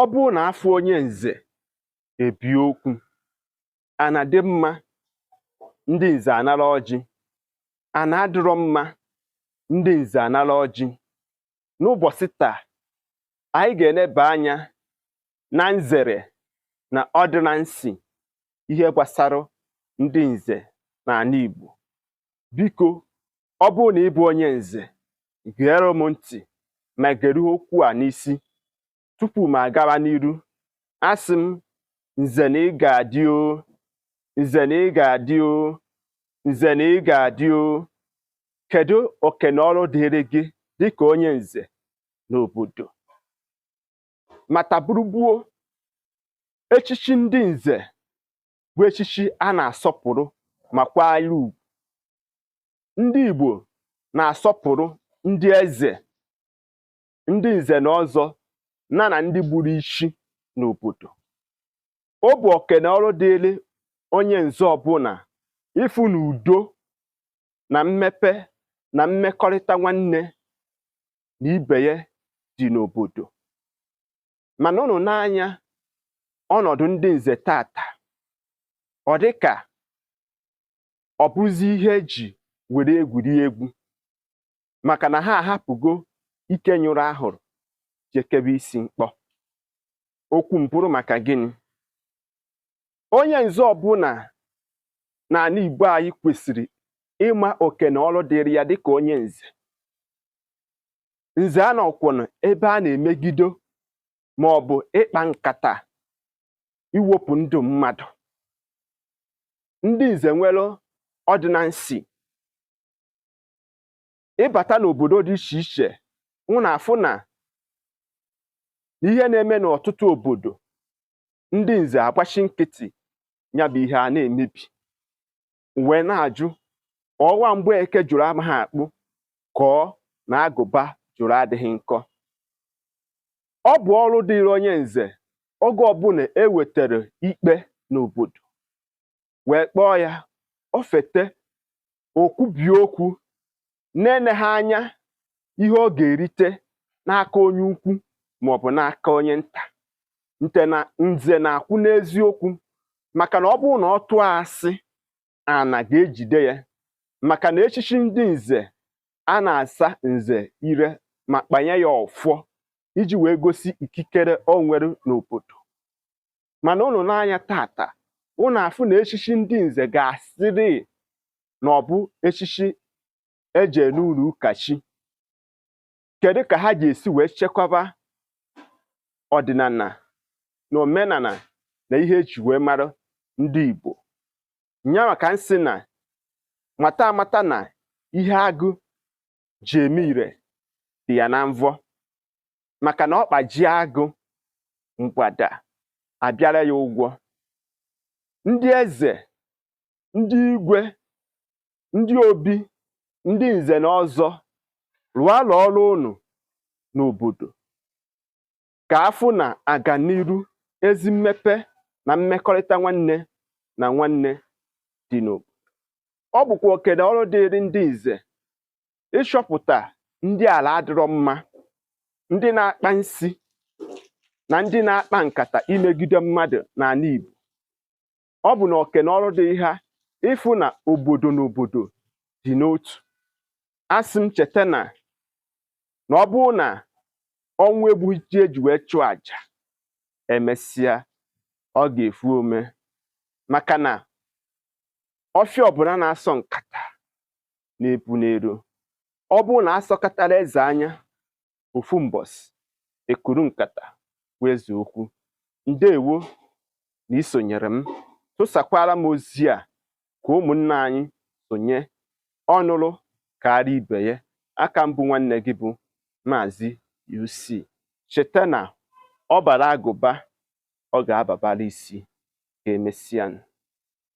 ọ bụrụ na afụ onye nze ebie okwu ana dị mma ndị nze anara ọjị ana adịrọ mma ndị nze anara ọjị n'ụbọchị taa anyị ga-eneba anya na nzere na ọdịnansọ ihe gbasara ndị nze n'ana Igbo biko ọ bụrụ na ị bụ onye nze gere m ntị ma gere okwu a n'isi tupu m agawa n'iru asị m nze na ị ga-adị o nze na ị ga-adị o nze na ị ga-adị o kedu oke na ọrụ dịrị gị dịka onye nze n'obodo mata bụrụ gboo echichi ndị nze bụ echichi a na-asọpụrụ ma kwanyere ugwu ndị Igbo na-asọpụrụ ndị eze ndị nze na ọzọ na na ndị gburu ichi n'obodo ọ bụ oke na ọrụ dịịrị onye nze ọbụla ịfụ na udo na mmepe na mmekọrịta nwanne na ibe ya dị n'obodo mana ụnụ nee anya ọnọdụ ndị nze taata ọ dị ka ọ bụzi ihe eji were egwuri egwu maka na ha ahapụgo ike nyụrụ ahụrụ je kebe isi mkpọ okwu mpụrụ maka gịnị onye nze ọbụla n'ana Igbo anyị kwesịrị ịma oke na ọrụ dịrị ya dịka onye nze nze anọkwụna ebe a na-emegido ma ọ bụ ịkpa nkata iwepụ ndụ mmadụ ndị nze nwere ọdịnansọ ị bata n'obodo dị iche iche ụnụ afụ na ihe na-eme n'ọtụtụ obodo ndị nze agbachi nkịtị ya bụ ihe a na-emebi wee na-ajụ ọ bụ Mgbeke jụrụ amaghị akpụ ka ọ na agụba jụrụ adịghị nkọ ọ bụ ọrụ dịịrị onye nze oge ọbụla e wetara ikpe n'obodo wee kpọọ ya o fete o kwubie okwu na-eneghị anya ihe ọ ga-erite n'aka onye ukwu maọbụ n'aka onye nta nze na nze na-akwụ n'eziokwu maka na ọ bụrụ na ọ tụọ asị ana ga-ejide ya maka na echichi ndị nze a na-asa nze ire ma kpanye ya ọfọ iji wee gosi ikikere o nwere n'obodo mana ụnụ nee anya taata ụnụ afụ na echichi ndị nze ga-asịrị na ọ bụ echichi eje n'ụlọ ụka chi kedu ka ha ga-esi wee chekwaba ọdịnala na omenala na ihe eji wee mara ndị Igbo nya maka m sị na mata amata na ihe agụ ji eme ire dị ya na mvọ maka na ọkpa jie agụ mgbada abịara ya ụgwọ ndị eze ndị igwe ndị obi ndị nze na ọzọ rụọla ọrụ ụnụ n'obodo ka afụ na aganiru ezi mmepe na mmekọrịta nwanne na nwanne dị n'obodo ọ bụkwa oke na ọrụ dịịrị ndị nze ịchọpụta ndị ala adịrọ mma ndị na-akpa nsi na ndị na-akpa nkata imegide mmadụ n'ala Igbo ọ bụ na oke na ọrụ dịrị ha ịfụ na obodo na obodo dị n'otu asị m cheta na na ọ bụrụ na ọnwụ egbughị ji eji wee chụọ aja emesịa ọ ga-efu ome maka na ọfịa ọbụla na-asọ nkata nya epuna ero ọ bụrụ na asọkatara eze anya ofu mbọsị ekpuru nkata gwa eze okwu ndewo na isonyere m tụsakwara m ozi a ka ụmụnna anyị sonye ọnụrụ kaara ibe ya aka m bụ nwanne gị bụ maazị UC cheta na ọ bara agụba ọ ga-ababara isi ka emesịa